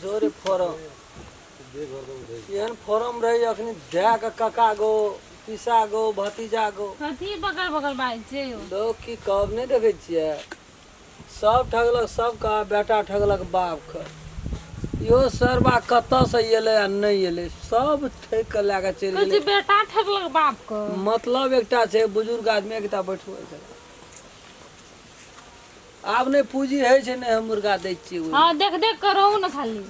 जोरे फॉरम एहन फॉरम रही अखनी दए के कका गो पिसा गो भतीजा गो कथी बगल बगल बाजै छै यौ लोग की कब नहीं देखे छियै सब ठगलक सबका बेटा ठगलक बाप के इहो सरबा कतऽ से एलै आ नहि एलै सब ठकि कऽ लए कऽ चलि कहै गेलै छै बेटा ठगलक बाप के मतलब एकटा छै बुजुर्ग आदमी एकटा बैठबै छै आब नहि पूँजी होइ छै नहि हम मुर्गा दै छियै हँ देख देख कऽ रहू ने खाली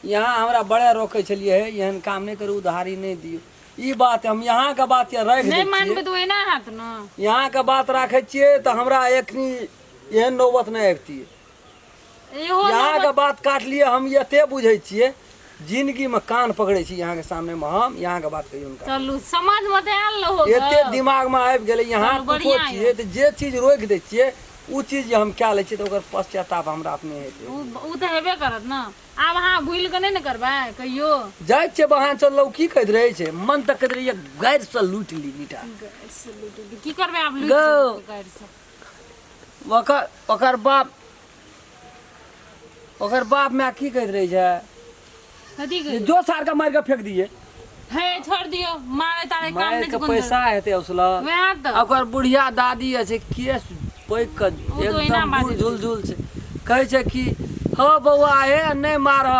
यहाँ हमरा बड़े रोकै छलियै हे एहन काम नहि करू उधारी नहि दियौ ई बात हम यहाँके बात के राखि दै छियै तऽ ओहिना हैत ने यहाँके बात राखै छियै तऽ हमरा एखनी एहन नौबत नहि अबितियै इहो यहाँ के नौबत- बात काट लिए हम ये ते बुझे छिए जिंदगी में कान पकड़े छी यहाँ के सामने में हम यहाँ के बात कहियो उनका चलू समझ में तऽ आयल रहो एते दिमाग में आबि गेलै यहाँ चलू, कुछो बढ़िया यऽ। छिए तऽ जे चीज रोकि दै छिए ओ चीज जे हम कए लै छिए तऽ ओकर पश्चाताप हमरा अपने हेतै उ उ तऽ हेबे करत ने आब अहाँ भूलि कऽ नहि ने करबै कहियो जाइ छिए बहान चललौ की कहैत रहै छै मन तक कहैत रहैए गाड़िसँ लूटि ली मीठा की करबै आब लुटि गौ। जेबै गाड़िसँ ओकर ओकर बाप ओकर बाप माय की कहैत रहै छै कथी जे कही जो सार के मारि के फेक दिए हे छोड़ दियो मारे तारे काम मारि नहीं के चुकन पैसा हेतै उसला वह तो ओकर बुढ़िया दादी अछि केस पैक के ओ तो ओहिना एकदम बाजै बुढ़ छै। झुल झुल छै कहै छै कि हौ बौआ हे नहि मारह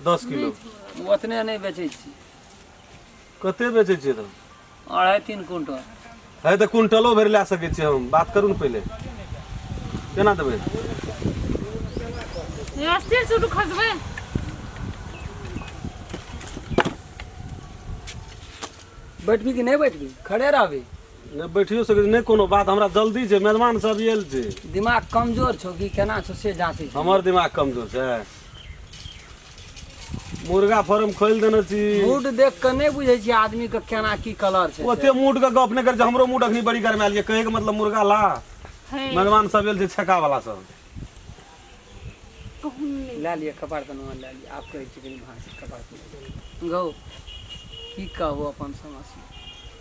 दस किलो ओ ओतने नहि बेचै छी कते बेचै छियै तब अढ़ाइ तीन क्विंटल है तऽ क्विंटलो भरि लए सकै छियै हम बात करू ने पहिले केना देबै अस्थिर से उठू खसबै बैठबी कि नहि बैठबी खड़े रहबी नहि बैठियो सकै छी नहि कोनो बात हमरा जल्दी छै मेहमान सब आयल छै दिमाग कमजोर छौ कि केना छौ से जाँचै छी हमर दिमाग कमजोर छै मुर्गा फार्म खोलि देने छी मूड देख के नहीं बुझे छी आदमी के केना की कलर छै ओते मूड के गप नहि कर हमरो मूड अखनी बड़ी गरमायल ये कहे के मतलब मुर्गा ला मेहमान सब एल छै छका वाला सब ला लिए कपार तन ला लिए आप कहे छी कनी भाषा कपार तन गौ की कहबो अपन समस्या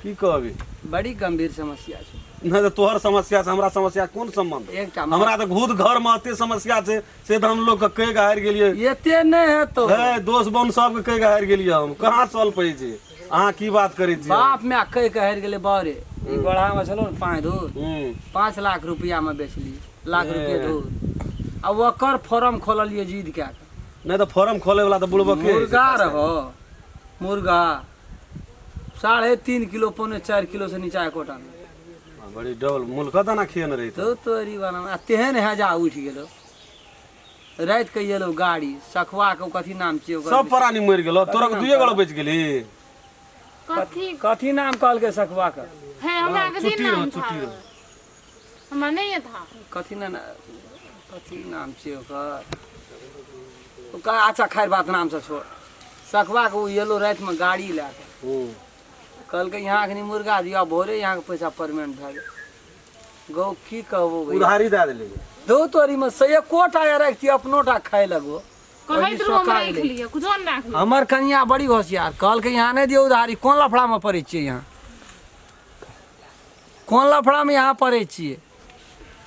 की कहबी बड़ी गंभीर समस्या छै नहीं तो तोहर समस्या से हमरा समस्या कोन संबंध एकटा हमरा तो घूत घर में अते समस्या छै से तऽ हम लोग के कहि के हारि गेलियै एते नहि हेतौ हे दोस्त बम सबके कहि के हारि गेलियै हम कहाँ चल पड़ै छै अहाँ की बात करै छियै बाप माय कहि के हारि गेलै बारे ई गोढ़ा मे छलो ने पाँच धूर हूँ पाँच लाख रुपया मे बेचली लाख ए। रुपये धूर आ ओकर फॉर्म खोललियै जिद कए कऽ नहि तऽ फॉर्म खोले वाला तऽ बुड़बक के मुर्गा रहो मुर्गा साढ़े तीन किलो पौने चारि किलो से नीचा एकोटा नहि आ, बड़ी डबल मुल्का दाना खियन रही तो तोरी वाला आ तेहन हेजा उठि गेलो राति के एलो गाड़ी सखवा के कथी नाम छियै ओकर सब प्राणी मरि गेलो तोरा के दुए गोला बचि गेली कथी कथी नाम कहलकै सखवा के है हमरा के दिन छुट्टी रहो नाम था छुट्टी रहो हमरा नहीं ये था कथी ना ना- कथी नाम छियै ओकर ओकर अच्छा खैर बात नाम से छोड़ सखवा के ओ एलो रातिमे गाड़ी लए के हूँ कहलकै यहाँ अखनी मुर्गा दिया भोरे यहाँ के पैसा परमेंट भए गेल गौ की कहबो भैया उधारी दए देली दो तोरी में से एको टा या राखती अपनो टा खाए लगो कहैत रहू हमरा एक लिए कुछो नहि राखू हमर कनिया बड़ी होशियार कहलकै यहाँ नहीं दियो उधारी कोन लफड़ा में पड़े छियै यहाँ कोन लफड़ा में यहाँ पड़े छियै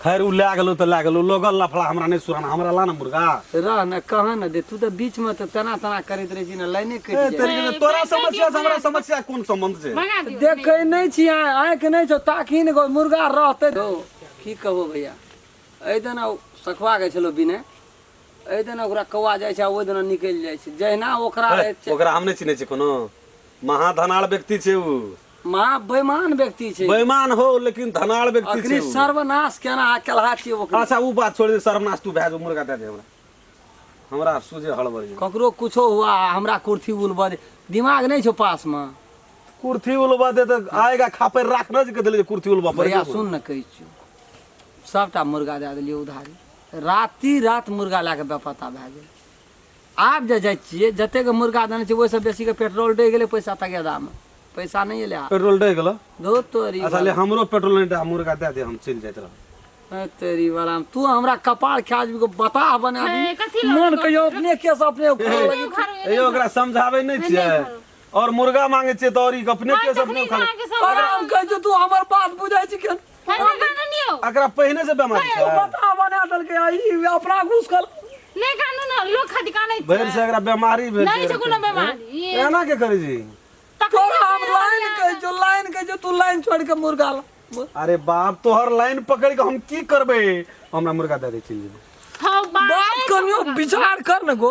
खैर ओ लए गेलहुँ तऽ लए गेलहुँ लोगल लफड़ा हमरा नहि सुराना हमरा ला ने मुर्गा रह ने कह ने दे तू तऽ बीच में तऽ तना तना करैत रहै छी ने लाइने कटि ए, जाय तेरी के- तोरा समस्या से हमरा समस्या कोन संबंध छै मंगा दियो देखै नहि छी अहाँ आँखि नहि छौ ताकि ने गो मुर्गा रहतै धौ की कहबो भैया एहि दिन सखुआ गए छलो बिने एहि दिन ओकरा कौआ जाइ छै आ ओहि दिन निकलि जाइ छै जहिना ओकरा रहै छै ओकरा हम नहि चिन्है छी कोनो महाधनाल व्यक्ति छै ओ माँ बेमान व्यक्ति छै बेमान हो लेकिन धनाड़ व्यक्ति अखनी छै उ। सर्वनाश केना आ केलहा छियै ओकरे अच्छा उ बात छोड़ दे सर्वनाश तू भए जो मुर्गा दे दे हमरा हमरा सोझे हड़बड़ ये ककरो कुछो हुआ आ हमरा कुर्थी उलबऽ दे दिमाग नहि छौ पास मे कुर्थी उलबा दे तऽ आएगा खापर राख न जे के देले जे कुर्थी उलबा पर भैया सुन ने कहै छियौ सभटा मुर्गा दए देलियै उधारी राति रात मुर्गा लए कऽ बेपत्ता भए गेल आब जे जाइ छियै जतेक मुर्गा देने छियै ओहिसँ बेसीके पेट्रोल डहि गेलै पैसा तगेदामे पैसा नहि एलै आब पेट्रोल डहि गेलो धो तोरी अच्छा ले हमरो पेट्रोल नहि दे मुर्गा दे दे हम चलि जाइत रहब ए, तेरी वाला तू हमरा कपार खा जेबी बताह बना दी ए, कथी लऽ मन कहियो अपने केस अपने उखाड़ लगी। क्यों घर में यौ ओकरा समझाबै नहि छियै आओर मुर्गा मांगे छियै तऽ आओर ई अपने के अपने तखनी खा अहाँके सब ओकरा हम कहै छी तू हमर बात बुझै छी केहन अकरा पहिने से बेमारी छै पता बना देलकै आ ई अपना घुस कर नहीं कानू ना लोग खातिर कानै छै भरि से अकरा बेमारी भेल नहीं छै कोनो बेमारी एना के करै छी तोरा हम लाइन कहै छौ लाइन कहै छौ तू लाइन छोड़ के मुर्गा ला अरे बाप तोहर लाइन पकड़ के हम की करबे हमरा मुर्गा दे दे चल जेबै हाँ बात बात करियो विचार कर न गो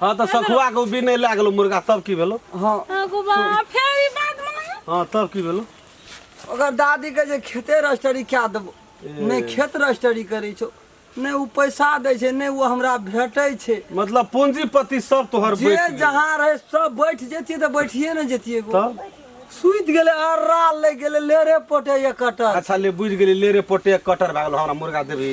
हाँ तऽ सखुआ के भी नहि लए गेलो मुर्गा तब की भेलो हाँ आगू बा फेर ई बात माने हाँ तब की भेलो ओकर दादी के जे खेते रजिस्ट्री क्या देबो नहि खेत रजिस्ट्री करै छौ नहि ओ पैसा दै छै नहि ओ हमरा भेटै छै मतलब पूंजीपति सब तोहर जे बैठ गेल। जहाँ रहे सब बैठ जतियै तऽ बैठिए ने जतियै गो। तब सुति गेलै अर्रा लागि गेलै लेरे पोटे ये कटल अच्छा ले बुझि गेली ले रे पोटे कटर भए गेलो हमरा मुर्गा देबही